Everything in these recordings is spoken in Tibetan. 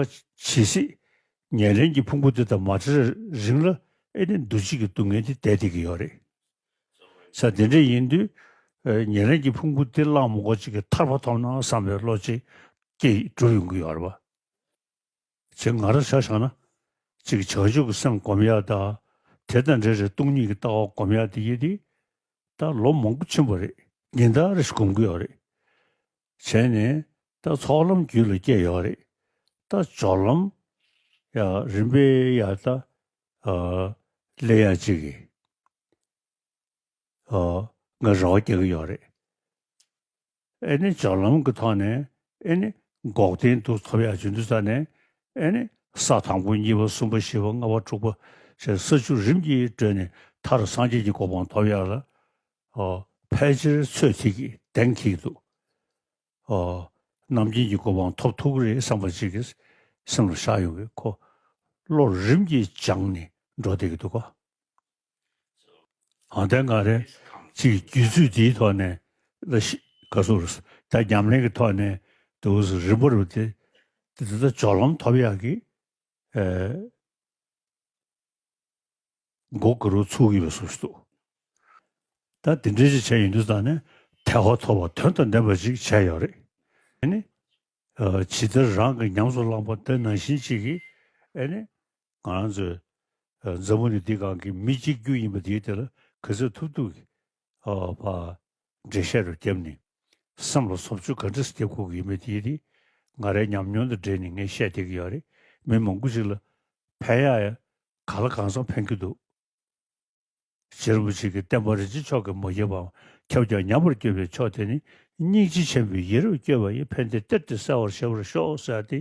ཇི་སྲིད་ཉེར་ལེན་གྱི་ཕུང་པོ་འདི་དང་མ་བྲལ་རིང་ལ་ཨེ་ནས་འདུ་བྱེད་ཀྱི་སྡུག་བསྔལ་འདི་འདས་ཏེ་གི་ཡོད་རེད། ས་དེ་འདྲ་ཡིན་དུས་ཉེར་ལེན་གྱི་ཕུང་པོ་འདི་གླགས་མགོ་གཅིག་གིས་ཐར་པ་ཐོབ་ན་བསམ་པའི་བློ་ཅིག་སྐྱེས་གྲུབ་ཡོང་གི་ཡོད་རེད་པ། ཇི་ང་ར་བྱ་བཞག་ན་ཅིག་བྱང་ཆུབ་ཀྱི་སེམས་སྒོམ་ཡག་དང་དེ་དང་འདྲེས་རེ་སྟོང་ཉིད་ཀྱི་ལྟ་བ་སྒོམ་ཡག་འདི་ཡིན་དུས་ད་ལོ་མང་པོ་ཕྱིན་པ་རེད་ཉིན་ལྟར་རེ་ཞིག་སྒོམ་གི་ཡོད་རེད། བྱས་ནས་རྟ་ཚོགས་ལམ་རྒྱུད་ལ་སྐྱེས་ཡོད་རེད། རྟ་སྦྱོར་ལམ། ཡང་རིམ་པས་ཡང་རྟ། ལས་ཡང་གཅིག་གིས། ང་རེ་བ་སྐྱེ་གི་ཡོད་རེད། ཨེ་ནི་སྦྱོར་ལམ་གི་ཐོག་ནས་ཨེ་ནི་འགོག་བདེན་སྡུག་ཐོབ་ཡག་བྱུང་དུས་ས་ནས་ཨེ་ནི་ས་དང་པོ་གཉིས་པ་གསུམ་པ་བཞི་པ་ལྔ་པ་དྲུག་པ་ཞེས་ས་བཅུ་རིམ་གྱིས་བགྲོད་ནས་མཐར་སངས་རྒྱས་ཀྱི་གོ་འཕང་ཐོབ་ཡག་ལ། ཕལ་ཆེར་ཚོད་ཅིག་གིས་གདེང་གིས་འདུག། རྣམ་མཁྱེན་གྱི་གོ་འཕང་ཐོབ་ཐུག་རེད་བསམ་པ་ཅིག་གིས་སེམས་ལ་བཞག་ཡོང་གི་ཁོ། བློ་རིམ་གྱིས་སྦྱངས་ནས་འགྲོ་བསྡད་ཀྱི་འདུག་གོ། ཨང་དེ་འགའ་རེ་ཅིག་རྒྱུད་ཚུལ་འདིའི་ཐོག་ནས་ལ་ཤི་ག་སུ་རུ་ད་ཉམས་ལེན་གྱི་ཐོག་ནས་དུ་བུ་སུ་རིན་པོ་རུ་དེ་འདི་ལྟར་སྦྱོར་ལམ་ཐོབ་ཡག་གི། མགོ་དགུ་རུ་ཚུགས་ཡོད་སུ་ཞིག་འདུག་ད་དེ་འདྲའི་ཅིག་བྱས་ཡིན་དུས་ད་ནི་ཐལ་བ་ཐོབ་པ་དོན་དང་ལྡན་པ་ཅིག་བྱས་ཡོད་རེད་ཨེ་ནི། ཇི་ལྟར་རང་གི་ཉམས་སུ་བླངས་པ་ལྟར་ནང་བཞིན་ཅིག་གིས་ཨེ་ནི། ང་རང་ཚོའི་མཛའ་མོ་ནི་འདི་གང་གི་མི་གཅིག་གྱུར་ཡིན་པ་དེའི་དེ་ལ་གུས་བརྩི་ཐུབ་ཐུབ་ཀྱི་ཨ་ཕ། འགྲེལ་བཤད་རུ་རྒྱབ་ནི། སེམས་ལ་སོབ་ཆུ་ག་འདྲི་སྟེ་ཁུག་གི་ཡིན་མི་དེའི་རིགས། ང་རའི་ཉམས་མྱོང་དང་འབྲེལ་ནས་ངས་བཤད་བསྡད་ཀྱི་ཡོད་རེད། མི་མང་པོ་ཞིག་ལ། ཕན་ཡ། ག་ལ་གང་བཟང་ཕན་གྱི་འདུག། རྗེ་རིན་པོ་ཆེ་གི་བསྟན་པ་རིན་ཆེན་མཆོག་གིས་མ་བསྐྱེད་པའམ་ཁྱབ་ཀྱང་ཉམས་པར་སྐྱོད་པའི་མཆོག་དེ་ནི། སྙིང་རྗེ་ཆེན་པོའི་ཡིད་རབ་བསྐྱོད་པ་ཡིས་ཕན་བདེ་སྟེར་ཏེ་གསལ་བར་བྱེད་པར་ཤོག་ཟེར་ཏེ་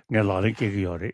ངས་ལག་ལེན་བཀལ་གྱི་ཡོད་རེད།